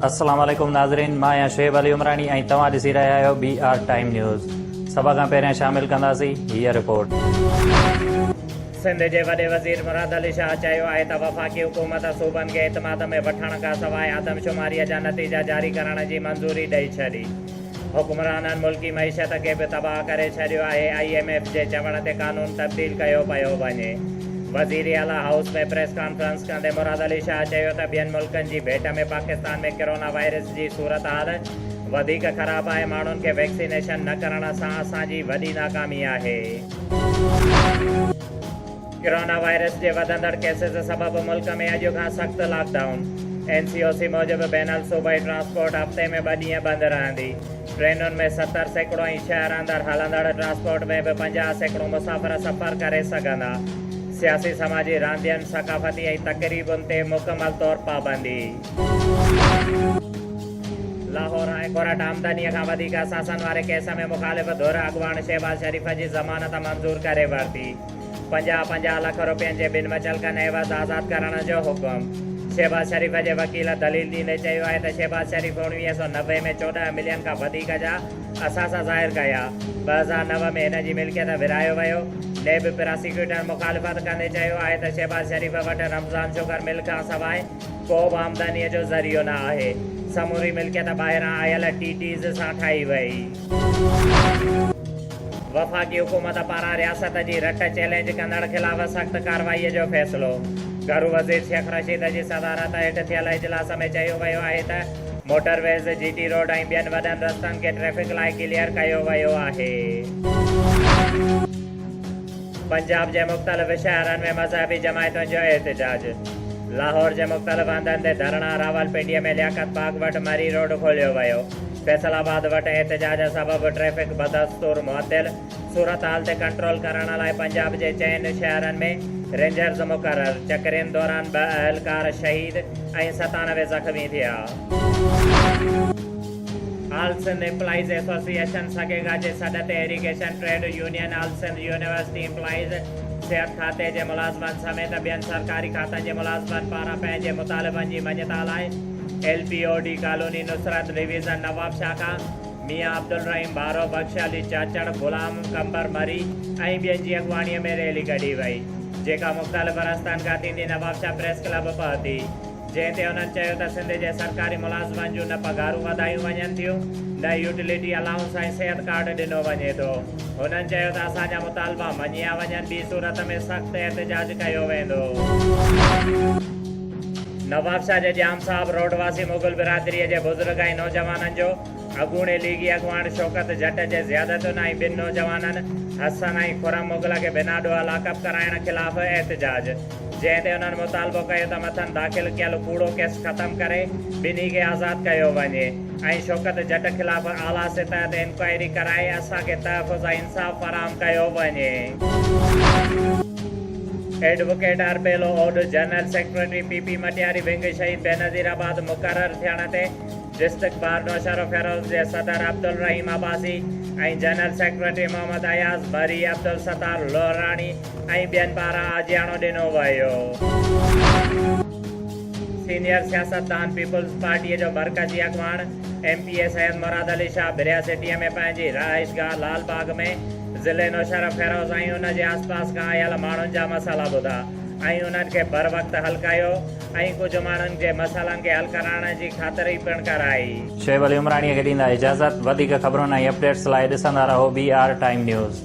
السلام عليڪم ناظرين مان آهيان شعيب علي عمراڻي ۽ توهان ڏسي رهيا آهيو بي آر ٽائيم نيوز سڀ کان پهريان شامل ڪنداسين هي رپورٽ سنڌ جي وڏي وزير مراد علي شاهه چيو آهي ته وفاقي حڪومت صوبن کي اعتماد ۾ وٺڻ کان سواء آدمشماري جا نتيجا جاري ڪرڻ جي منظوري ڏئي ڇڏي حڪمرانن ملڪي معيشت کي به تباهه ڪري ڇڏيو آهي، آء ايم ايف جي چوڻ تي قانون تبديل ڪيو پيو وڃي. وزير اعليٰ هائوس ۾ پريس ڪانفرنس ڪندي مراد علي شاهه چيو ته ٻين ملڪن جي ڀيٽ ۾ پاڪستان ۾ ڪرونا وائرس جي صورتحال وڌيڪ خراب آهي، ماڻهن کي ويڪسينيشن نه ڪرڻ سان اسان جي وڏي ناڪامي آهي. ڪرونا وائرس جي وڌندڙ ڪيسز سبب ملڪ ۾ اڄ کان سخت lockdown, N C O C موجب بين الصوبائي ٽرانسپورٽ هفتي ۾ ٻه ڏينهن بند رهندي، ٽرينن ۾ ستر سيڪڙو ۽ شهر اندر هلندڙ ٽرانسپورٽ ۾ به پنجاهه سيڪڙو مسافر سفر ڪري سگهندا، سياسي سماجي راندين، ثقافتي ۽ تقريبن تي مڪمل طور پابندي. لاهور هاء ڪورٽ آمدني کان وڌيڪ اثاثن واري ڪيس ۾ مخالف ڌر اڳواڻ شهباز شريف جي ضمانت منظور ڪري ورتي. پنجاهه پنجاهه لک روپين جي ٻن متعلقن عيوض آزاد ڪرڻ جو حڪم شهباز شريف جي وڪيل دليل ڏيندي چيو آهي ته شهباز شريف اوڻويهه سؤ نوي ۾ چوڏهن ملين کان وڌيڪ جا اثاثا ظاهر ڪيا ٻه هزار نو ۾ هن جي ملڪيت ورهايو ويو نيب پراسيڪيوٽر مخالفت ڪندي چيو آهي ته شهباز شريف وٽ رمضان شگر مل کان سواء ڪو به آمدني جو ذريعو نه آهي سموري ملڪيت ٻاهران آيل ٽي ٽيز سان ٺاهي وئي. وفاقي حڪومت پاران رياست جي رٽ چئلينج ڪندڙ خلاف سخت ڪارروائي جو فيصلو گهرو وزير شيخ رشيد جي صدارت هيٺ ٿيل اجلاس ۾ چيو ويو آهي ته motorways, G T road ۽ ٻين وڏن رستن کي ٽريفڪ لاء ڪليئر ڪيو ويو آهي. پنجاب جي مختلف شهرن ۾ مذهبي جماعتن جو احتجاج، لاهور جي مختلف هنڌن تي ڌرڻا، راولپنڊي ۾ لياقت باغ وٽ مري روڊ کوليو ويو. فيصل آباد وٽ احتجاج سبب ٽريفڪ بدستور معطل، صورتحال تي ڪنٽرول ڪرڻ لاء پنجاب جي چئن شهرن ۾ رينجرز مقرر، چڪرين دوران ٻه اهلڪار شهيد ۽ ستانوي زخمي ٿيا. All Sindh employees association سگيگا جي سڏ تي irrigation trade union all Sindh university employees, صحت کاتي جي ملازمن سميت ٻين سرڪاري کاتن جي ملازمن پاران پنهنجي مطالبن جي مڃتا لاء، L P O D colony Nusrat division Nawab شاخا ميان عبدالرحيم ڀارو بخش علي چاچڙ غلام قمبر مري ۽ ٻين جي اڳواڻي ۾ ريلي ڪڍي وئي جيڪا مختلف رستن کان ٿيندي نواب شاھ پريس ڪلب پهتي جنهن تي انهن چيو ته سنڌ جي سرڪاري ملازمن جون نه پگهارون وڌايون وڃن ٿيون نه يوٽيلٽي الائونس ۽ صحت ڪارڊ ڏنو وڃي ٿو هنن چيو ته اسان جا مطالبا مڃيا وڃن ٻي صورت ۾ سخت احتجاج ڪيو ويندو. نوابشاهه جي ڄام صاحب روڊ واسي مغل برادريء جي بزرگ ۽ نوجوانن جو اڳوڻي ليگي اڳواڻ شوڪت جٽ جي زيادتين ۽ ٻن نوجوانن حسن ۽ خرم مغل کي بنا ڏوهه لاڪپ ڪرائڻ خلاف احتجاج جنهن تي انهن مطالبو ڪيو ته مٿن داخل ڪيل ڪوڙو ڪيس ختم ڪري ٻنهي کي آزاد ڪيو وڃي ۽ شوڪت جٽ خلاف اعليٰ سطح تي انڪوائري ڪرائي اسان کي تحفظ ۽ انصاف فراهم ڪيو وڃي. ايڊووڪيٽ ارپيلو Odh general secretary P P Matiari wing Shaheed Benazir آباد مقرر ٿيڻ تي ڊسٽرڪٽ بار نوشهروفيروز جي صدر عبدالرحيم عباسي ۽ جنرل سيڪريٽري محمد اياز بري، عبدالستار لهراڻي ۽ ٻين پاران آجياڻو ڏنو ويو. سينيئر سياستدان پيپلز پارٽي جو مرڪزي اڳواڻ M P A Syed Murad Ali Shah برياسٽيء ۾ پنهنجي رهائشگاهه لال باغ ۾ ضلعي نوشهره فيروز ۽ ان جي آسپاس کان آيل ماڻهن جا مسئلا ٻڌا ۽ انهن کي بروقت حل ڪيو ۽ ڪجهه ماڻهن جي مسئلن کي حل ڪرائڻ جي خاطري پڻ ڪرائي. شعيب علي عمراڻيء کي ڏيندا اجازت. وڌيڪ خبرن ۽ اپڊيٽس لاء ڏسندا رهو بي آر ٽائيم نيوز.